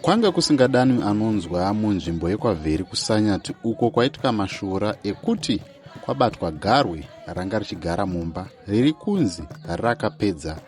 kwanga kusingadanwi anonzwa munzvimbo yekwavheri kusanyati uko kwaitika mashura ekuti kwabatwa garwe ranga richigara mumba riri kunzi rakapedza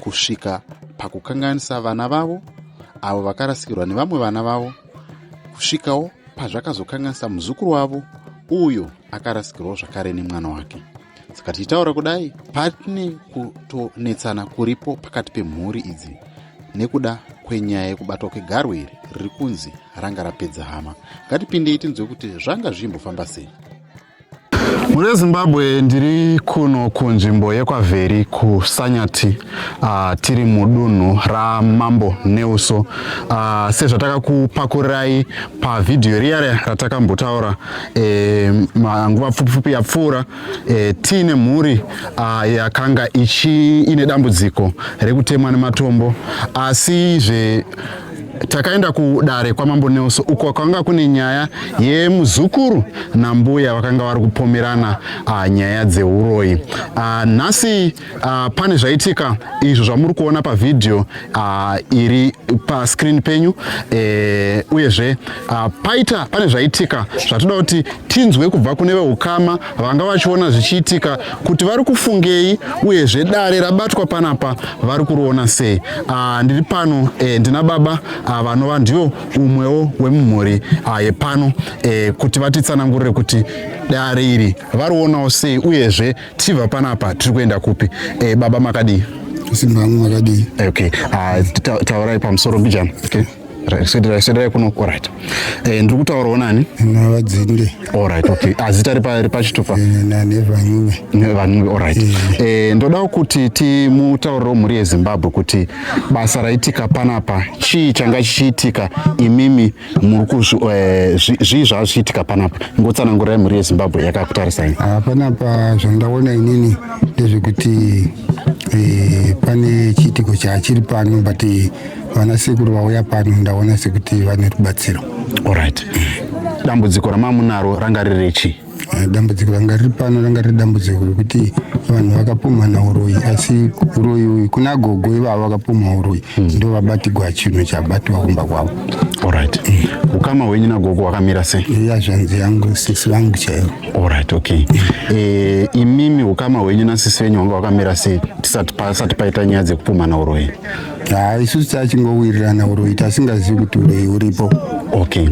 kusvika pakukanganisa vana vavo avo vakarasikirwa nevamwe vana vavo kusvikawo pazvakazokanganisa muzukuru wavo uyo akarasikirwawo zvakare nemwana wake saka tichitaura kudai patine kutonetsana kuripo pakati pemhuri idzi nekuda kwenyaya yekubatwa kwegarwe iri riri kunzi ranga rapedza hama ngatipindei tinzwe kuti zvanga zvichimbofamba sei mune zimbabwe ndiri kuno kunzvimbo yekwavheri kusanyati uh, tiri mudunhu ramambo neuso uh, ah, sezvatakakupakurirai pavhidhiyo riya ratakambotaura eh, nguva pfupipfupi yapfuura eh, tiine mhuri uh, yakanga ichi ine dambudziko rekutemwa nematombo asi zve uh, takaenda kudare kwamambo Nelson uko kwanga kune nyaya yemuzukuru nambuya vakanga vari kupomerana uh, nyaya dzeuroyi uh, nhasi uh, pane zvaitika izvo zvamuri kuona pavhidhiyo uh, iri pascreen penyu eh, uyezve uh, paita pane zvaitika zvatoda kuti tinzwe kubva kune veukama vanga vachiona zvichiitika kuti vari kufungei uyezve dare rabatwa panapa vari kuriona sei ah, ndiri pano eh, ndina baba ah, vanova ndiyo umwewo wemumhuri ah, yepano eh, kuti vatitsanangurire kuti dare iri varionawo sei uyezve tichibva panapa tiri kuenda kupi eh, baba makadii simba hangu makadii okay. ah, taurai pamusoro mbijana okay. sederai kuno orit eh, ndiri kutaurawo nani navadzinde orit ok azita ah, ripachitupa nevanunge nevanunge orit eh. eh, ndodawo kuti timutauriro mhuri yezimbabwe kuti basa raitika panapa chii changa chichiitika imimi muri kuzvii zvava zvichiitika panapa ngotsanangurai mhuri yezimbabwe yakakutarisai ah, panapa zvandaona inini ndezvekuti Eh, pane chiitiko chachiri pano but eh, vana sekuru vauya pano ndaona sekuti vane rubatsiro orit dambudziko ramamunaro ranga riri chii eh, dambudziko ranga riri pano ranga riri dambudziko rekuti vanhu vakapumhana uroyi asi uroyi uyu kuna gogo ivavo vakapumha uroyi hmm. ndo vabatigwa chinhu chabatwa kumba kwavo orit ukama hwenyu nagogo wakamira sei ya zvanzi yangu sisi vangu chaivo Alright, okay. Eh, imimi ukama hwenyu nasisi venyu wanga wakamira sei tisati pasati paita nyaya dzekupumhana uroyi? Ah, isusu tachingowirirana uroyi tasingazivi kuti uroyi uripo. Okay.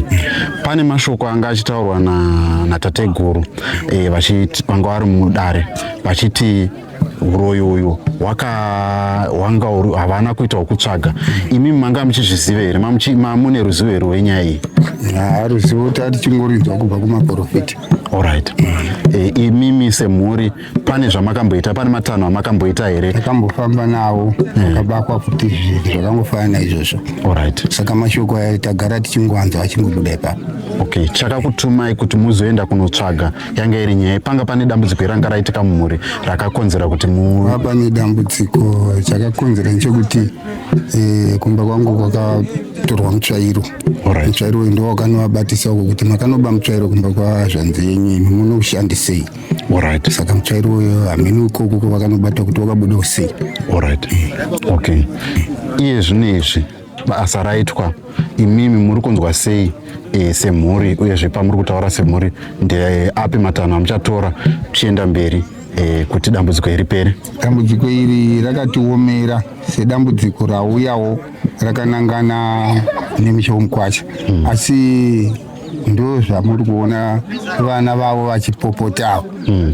Pane mashoko anga achitaurwa na natateguru eh vachiti vanga vari mudare vachiti uroyi uyu hwanga havana kuita wokutsvaga imi manga muchizviziva here mamune ruzivo here wenyaya iyi haa ruzivo tati chingorinzwa kubva kumaprofita orit eh, imimi semhuri pane zvamakamboita pane matanho amakamboita here akambofamba nawo eh. akabakwa futi zvinhu zvakangofanana izvozvo orit saka mashoko ayo tagara tichingoanzwa achingobuda ipapo okay chakakutumai kuti muzoenda kunotsvaga yanga iri nyaya panga pane dambudziko iranga raitika mumhuri rakakonzera kuti mu ah, pane dambudziko chakakonzera nechekuti eh, kumba kwangu kwakatorwa mutsvairo mutsvairo uyu ndo wakanovabatisa uko kuti makanoba mutsvairo kumba kwazvanzi yenyu imi munoushandisei orit saka mutsvairo uyo hameno ikoko kwavakanobata kuti wakabuda usei orit eh. okay iye zvino izvi basa raitwa imimi muri kunzwa sei e, semhuri uyezve pamuri kutaura semhuri ndeapi matanho amuchatora tichienda mberi e, kuti dambudziko iri pere dambudziko iri rakatiomera sedambudziko rauyawo rakanangana nemusha womukwacha hmm. asi ndo zvamuri kuona vana vavo vachipopotawo hmm.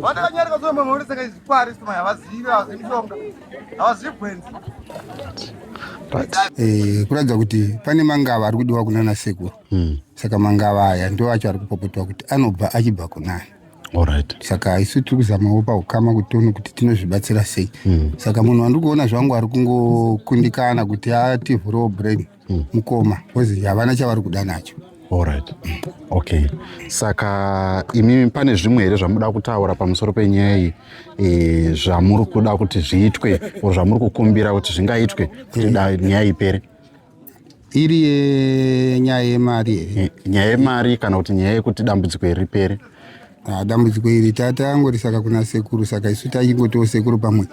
Vandakanyarika zve mama uri saka zvikwari sima havazivi mishonga havazivi gwenzi. But eh kuratidza kuti pane mangava ari kudiwa kunana sekuru. Hmm. Saka mangava aya ndo acho ari kupopotwa kuti anobva achibva kunani. Alright. Saka isu tiri kuzamawo paukama kuti tione kuti tinozvibatsira sei. Hmm. Saka munhu wandiri kuona zvangu ari kungokundikana kuti ativhurewo brain. mm. mukoma bcause havana chavari kuda nacho allright okay saka imimi pane zvimwe here zvamuda kutaura pamusoro penyaya iyi e, zvamuri kuda kuti zviitwe or zvamuri kukumbira kuti zvingaitwe kuti eh. nyaya ipere iri yenyaya yemari e, nyaya yemari kana kuti nyaya yekuti dambudziko iri ripere Ah, dambudziko iri tatangorisaka kuna sekuru saka isu taingotiwo sekuru pamwe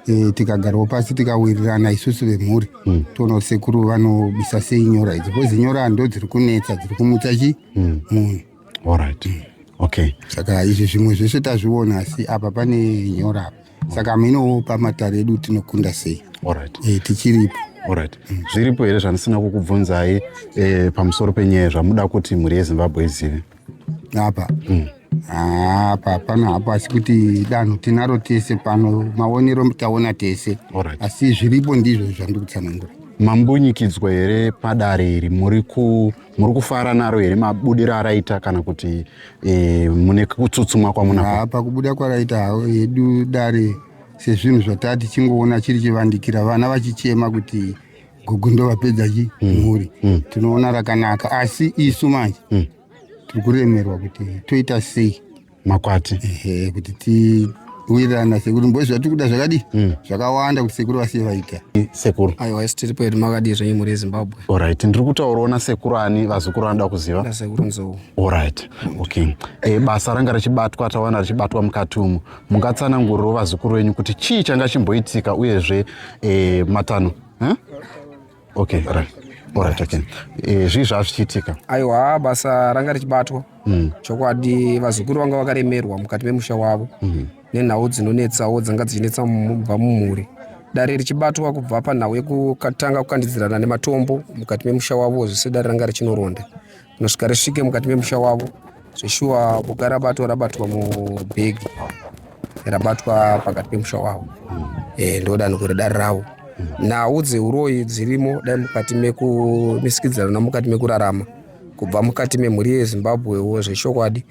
e, tikagarwa pasi tikawirirana isusu vemhuri mm. toona kuti sekuru vanobisa sei nyora idzi bcoz nyora ndo dziri kunetsa dziri kumutsa chi hmm. munhu mm. allright mm. okay saka izvi zvimwe zvese tazviona asi apa pane nyora apa saka minowo pamatare edu tinokunda sei allright e, tichiripo orit mm. zviripo here zvandisina kukubvunzai e, pamusoro penyaya zvamuda kuti mhuri yezimbabwe izive apa mm. Ah, apa pano hapo asi kuti danho tinaro tese pano maonero taona tese right. asi zviripo ndizvo zvandiri kutsanangura mambunyikidzwa here padare iri muri kufara naro here mabudiro araita kana kuti e, mune kutsutsumwa kwamuna pakubuda kwaraita havo hedu dare sezvinhu zvataa tichingoona chiri chivandikira vana vachichema kuti gugu ndovapedza chi mm. mhuri mm. tinoona rakanaka asi isu manje mm. tiri kuremerwa kuti toita sei makwati ehe kuti tiwirirana sekuru mbozi zvatiri kuda zvakadii mm. zvakawanda kuti sekuru vasiye vaita sekuru aiwa isi tiri pedu makadii zvenyu mhuri yezimbabwe orit ndiri kutaurawo nasekuru ani vazukuru anoda kuziva sekuru nzou orit okay e, basa ranga richibatwa taona richibatwa mukati umu mungatsanangurirewo vazukuru venyu kuti chii changa chimboitika uyezve eh, matano huh? okay right. Alright, okay. Eh, zvii zvaa zvichiitika aiwa basa ranga richibatwa mm. chokwadi vazukuru vanga vakaremerwa mukati memusha wavo mm. nenhau dzinonetsawo dzanga dzichinetsa mubva mumhuri dare richibatwa kubva panhau yekutanga kukandidzirana nematombo mukati memusha wavo zvese dare ranga richinoronda rinosvika risvike mukati memusha wavo zveshuwa boka rabatwa rabatwa mubhegi rabatwa pakati pemusha wavo hmm. eh, ndodani kuri dare ravo hmm. nhau dzeuroyi dzirimo dai mukati mekumisikidzirana mukati mekurarama kubva mukati memhuri yezimbabwewo zvechokwadi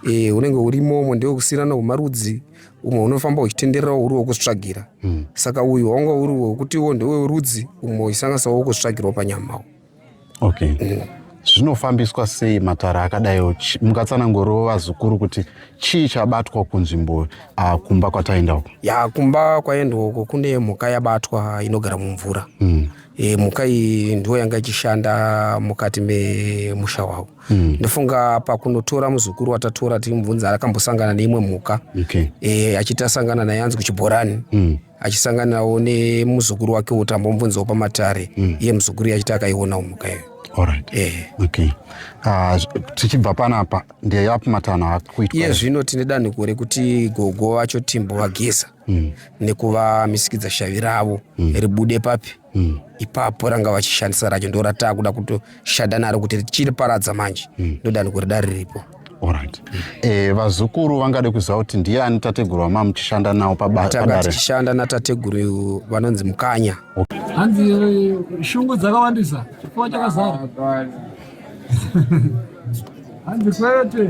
eh, unenge urimo umwe ndewekusiirana kwemarudzi umwe unofamba uchitendererawo uri wekuzvitsvagira hmm. saka uyu wanga uri wekutiwo ndewerudzi umwe uchisanganisawo wekuzvitsvagirawo panyamawo okay eh, zvinofambiswa sei matare akadaiwo mungatsananguriwo vazukuru kuti chii chabatwa kunzvimbo uh, kumba kwataenda uko ya kumba kwaendwa uko kune mhuka yabatwa inogara mumvura mm. e, mhuka iyi ndiwo yanga ichishanda mukati memusha wavo mm. ndofunga pakunotora muzukuru watatora timubvunza akambosangana neimwe mhuka okay. e, achiti asangana naye anzi kuchibhorani mm. achisanganawo nemuzukuru wake kuti ambombunzawo pamatare mm. iye muzukuru iye achiti akaiona umuka iyo Alright. Eh. Okay. Uh, tichibva panapa ndiye yapi matanho akuitwa iye zvino tine danhiko rekuti gogo vacho timbo vageza mm. nekuva misikidza shavi ravo mm. ribude papi mm. ipapo ranga vachishandisa racho ndo rataakuda kutoshanda naro kuti richiri paradza manje mm. ndodani kuri dare riripo Alright. Mm. Eh, vazukuru vangade kuziva kuti ndiye ani tateguru wama muchishanda nawo pabatanga tichishanda natateguru vanonzi mukanya okay. hanzi eh, shungu dzakawandisa chifua chakazara hanzi kwete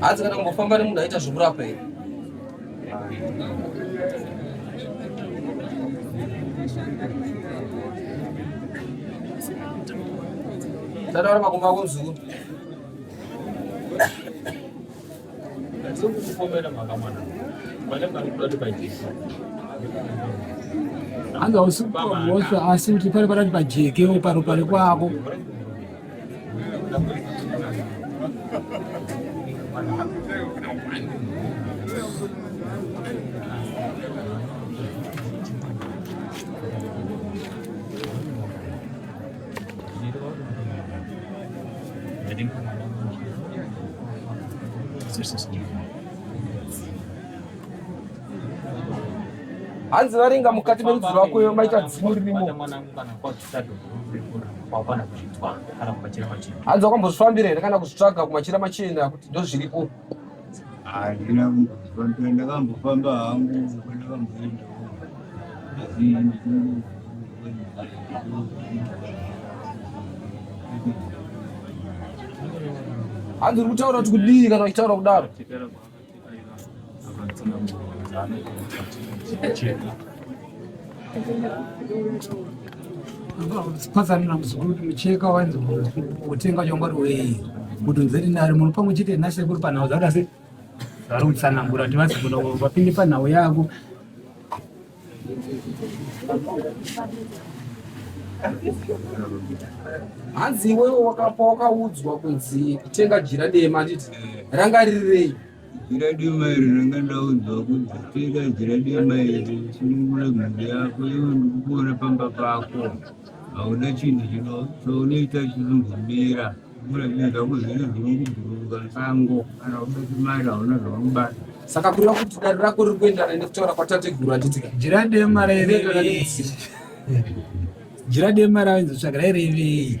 hanzi kana kungofamba nemunhu aita zvekurapa here tataura makumba ako mzukuru anga usikuaosva asi kuti pari parati pajekewo paro pari kwako hanzi varinga mukati merudzi rwako maita dzimu ririmo hanzi wakambozvifambira here kana kuzvitsvaga kumachira machena kuti ndozviripo Handina kumboziva ndoenda ndakambofamba hangu ndakamboendawo asi ndichingoo hanzi uri kutaura kuti kudii kana uchitaura kudaro Pasarina muzukuru kuti mucheka wainzi utenga chongwari wei kuti nzeri nari muno pamwe chete nasekuru panhau dzavo asi vari kutsanangura kuti vazi kuno vapinde panhau yako hanzi iwewe wakapa wakaudzwa kunzi kutenga jira dema anditi ranga ririrei Jiradi mairi ndanga ndaudzwa kuti pfeka jiradi mairi sunungura mhuri yako iwe ndikukuona pamba pako hauna chinhu chino chounoita chinombomira mura zvinhu zvako zvine zvinokubhururuka sango kana uda chimari hauna zvaunobata saka kureva kuti dare rako riri kuendana nekutaura kwatateguru atitika jiradi mari jiradi mari ainzotsvaga rairevei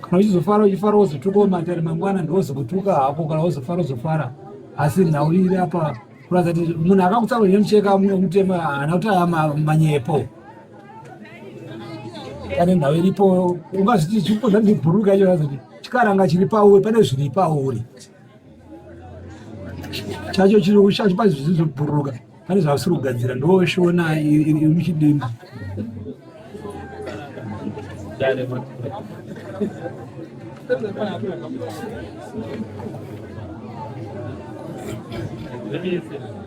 kana uchizofara uchifara wozotukawo matare mangwana ndiwozokutuka hako kana wozofara uzofara asi nhau iri apa kuratidza kuti munhu akakutsaura nemucheka mutema haana kuti aya manyepo pane nhau iripo ungazviti chikuko zvandibhuruka icho kuratidza kuti chikaranga chiri pauri pane zviri pauri chacho chirungu chacho pane zvizobhuruka pane zvavasiri kugadzira ndoshona ichidimba Thank you.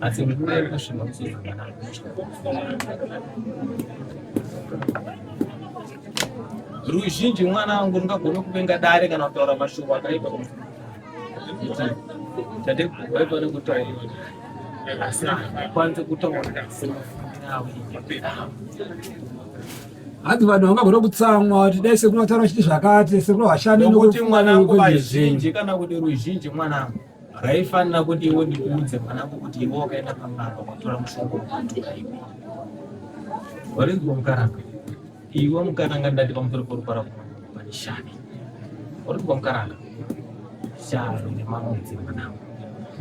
Asi mvura iri kusvimba kusvika zvakanaka. Ruzhinji mwana wangu ungagona kupenga dare kana kutaura mashoko akaipa. Tade kubaipa nekutaura. Asi kwanze kutaura. hanzi vanhu vangagona kutsamwa kuti dai sekuru vataura chiti zvakati sekuru vashandi nokuti mwana wangu vazhinji kana kuti ruzhinji mwana wangu Raifanira kuti iwe ndikuudze mwanangu kuti iwe wakaenda pang'anga kwatora mushonga wemuntu kaiwe. Warinzwa mukaranga. Iwe mukaranga ndati pamusoro porupara pane shani. Warinzwa mukaranga. Shani nemamudzi mwanangu.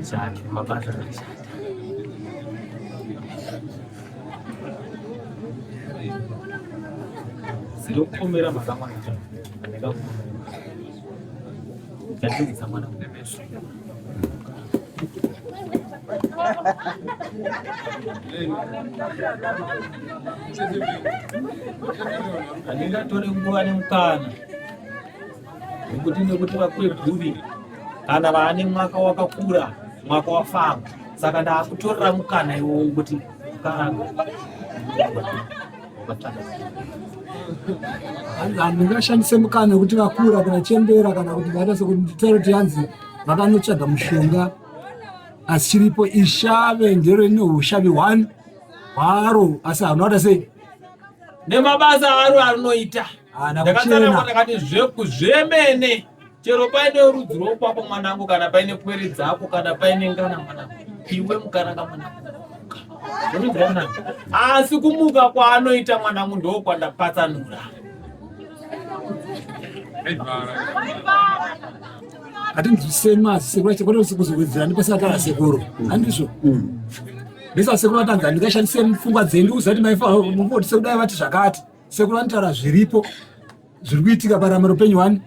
Shani nemabasa akashata. Siri kukomera mhaka mwana. Ndakakukomera. Ndapindidza mwana mune meso. Handingatore nguva nemukana nekuti nekuti vakweguri kana vaane mwaka wakakura mwaka wafamba saka ndaakutorera mukana iwowo kuti karanga ndingashandise mukana wekuti vakura kana chembera kana kuti vaita sekuti nditaure kuti yanzi vakanotsvaga mushonga asi chiripo ishave ndiro ine ushavi one hwaro asi hanoata sei nemabasa aro anoita ndakatsanangwa ndakati zvemene chero paine rudzi rwokwapo mwanangu kana paine pwere dzako kana paine ngana mwanangu iwe mukaranga mwanangu asi kumuka kwaanoita mwanangu ndokwandapatsanura hatinzwisei masekuru acho kwete kuzowedzerani pasina kana sekuru handizvo ndisa sekuru vatanzi handingashandise pfungwa dzenyu uziva kuti maifa mumbotisekudai vati zvakati sekuru vanotaura zviripo zviri kuitika parama rupenyu wani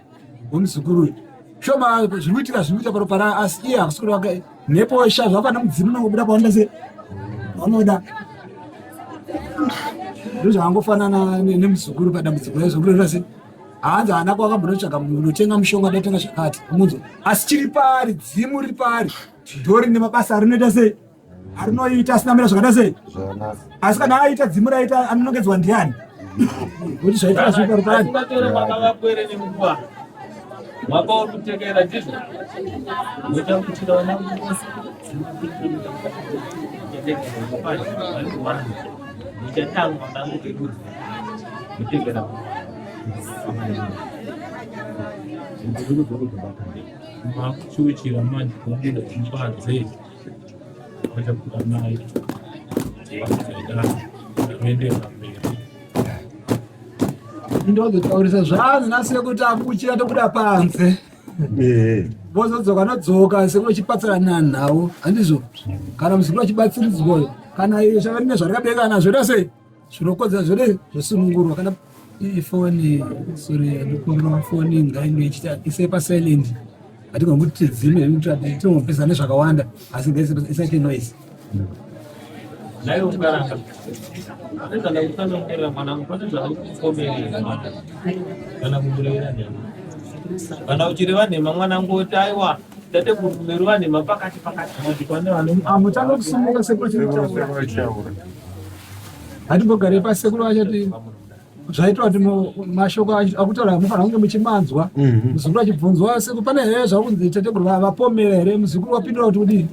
wemuzukuru uyu shoma zviri kuitika zviri kuita paropa ra asi iye hakusi kuti wake mhepo wesha zvapana mudzimu unongobuda pawanda se vanoda ndozvakangofanana nemuzukuru padambudziko rezukuru rira se hanzi haana kwakambonotsvaga unotenga mushonga ndatenga zvakati munzwa asi chiri paari dzimu riri paari ndorine mabasa rinoita sei arinoita asina mira zvakada sei asi kana aita dzimu raita anonongedzwa ndiani kuti zvaitaa zviri parupani mwaka uri kutekera ndizvo muchakuchira vana vose muchatanga vanangu vekudzi mutekera makuchuchira manje kubuda imba dzei ndozotaurisa zvanzi nasiye kuti akuchira tobuda panze vozodzoka nodzoka sekuru chipatsirana nhau handizvo kana muzukuru achibatsiridzwa kana iye zvavari nezvarikabeka nazvo ita sei Zvinokonzera zviri zvesunungurwa kana ifoni sorry ndikumbira foni ngainge ichita ise pa silent hatigoni kuti tidzime tinopesa nezvakawanda asi isaite noise kana uchireva nhema mwana ngoti aiwa Tateguru meruva nhema pakati pakati. Hamutanga kusimuka sekuru chinotaura. Hatimbogare pasi sekuru vachati zvaitwa kuti mashoko akutaura mufanira kunge muchimanzwa mhm. muzukuru achibvunzwa sekuru pane here zvakunzi tateguru vapomera here muzukuru wapindura kuti kudii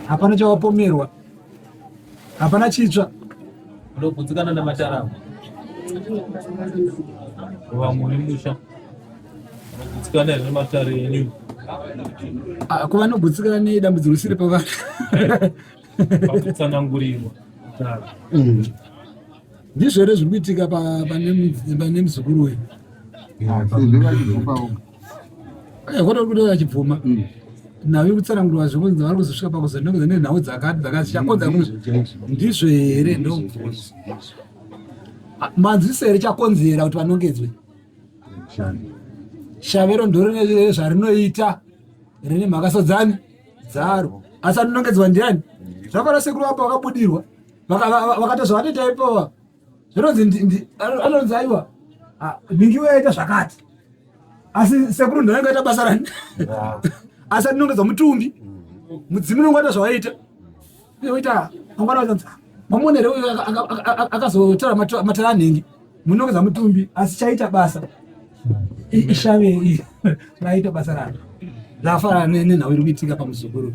hapana chawapomerwa hapana chitsva ndokudzikana namatara vamwe vemusha vanogudzikana here matare enyu ah, ko vanogutsikana nedambudziko risiri pavana pakutsanangurirwa mm. ndizvo here zviri kuitika pane muzukuru wenyu Eh, kwete kuti vachibvuma mm. nhau yekutsanangurwa zvekunzi vari kuzosvika pakuzonongeza nenhau dzakati dzakati chakonza mm, ndizvo here ndobvunza ah, manzwiso here chakonzera kuti vanongedzwe shavero ndorine zvarinoita rine mhaka sadzani dzaro asi anonongedzwa ndiani zvafana sekuru vapo vakabudirwa vakatozvavanoita ipoa zvinonzi anonzi aiwa nhingi waita zvakati asi sekuru ndinenge aita basa rani asi atinongedza mutumbi mm-hmm. mudzimu unenge waita zvawaita oita mangwana wazanzi mamonere uyo akazotora matara anhingi munongeza mutumbi asi chaita basa ishave raita basa raro rafanana nenhau iri kuitika pamuzukuru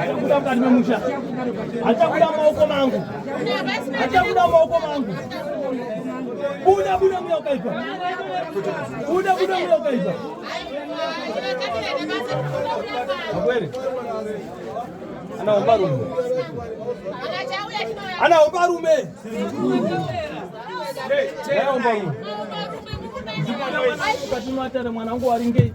Achakuda mukati memusha. Achakuda maoko mangu. Achakuda maoko mangu. Buda buda mweya wakaipa. Buda buda mweya wakaipa. Kweli. Anaomba rume. Anaomba rume. Anaomba rume. Mkati mwatare mwanangu waringei.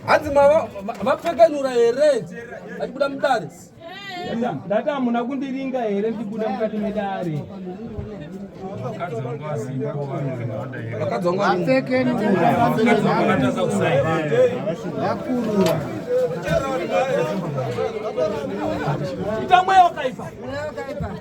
hanzi mava vapfekanura here achibuda mudare ndati hamuna kundiringa here ndibuda mukati medare itamweyo kaipa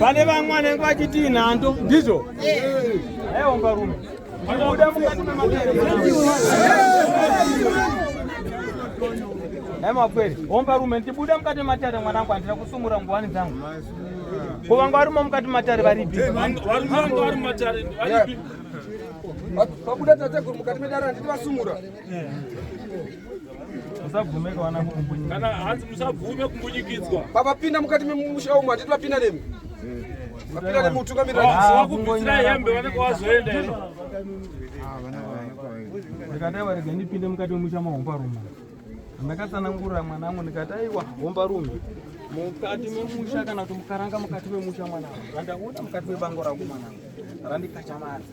Pane vamwe vanenge vachitii nhando ndizvo? Aiwa mbarume. mapwere omba rume ndibuda mukati matare mwanangu handina kusumura nguvani dzangu ko vanga varimo mukati matare varipi vabuda tateguru mukati medare handiti vasumura musabvume kawana kumbunyikidzwa kana hanzi musabvume kumbunyikidzwa pavapinda mukati memusha umu handiti vapinda nemi vapinda nemi utungamirira ah, vakubvisira hembe vanenge vazoenda ino ndikadai varega ndipinde mukati memusha mahomba rume ndakatsanangurira mwana wangu ndikati aiwa homba rume mukati memusha kana kuti mukaranga mukati memusha mwana wangu randakuona mukati mebango rangu mwana wangu randikachamadza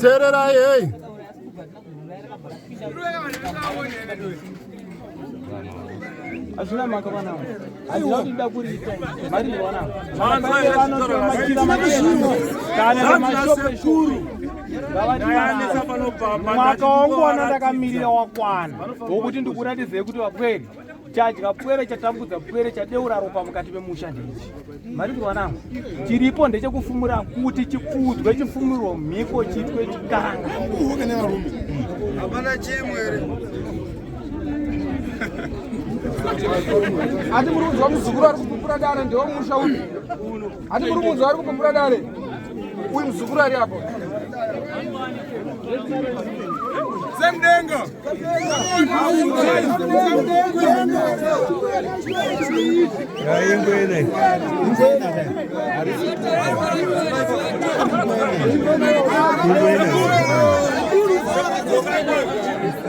tererai hei hazvina maka vana aiwaida kuriita mari newana kana mashope shuru mwaka wangu wana ndakamirira wakwana wokuti ndikuratidzei kuti vapweri chadya pwere chatambudza pwere chadeura ropa mukati memusha ndeichi marindirwa nangu chiripo ndechekufumura kuti chipfuudzwe chifumirwo mhiko chitwe chikanga hapana chimwere ati muri kunzwa muzukuru ari kupupura dare ndewo musha uyu Hati muri kunzwa ari kupumbura dare uyu muzukuru ari apo Semdenga. Semdenga.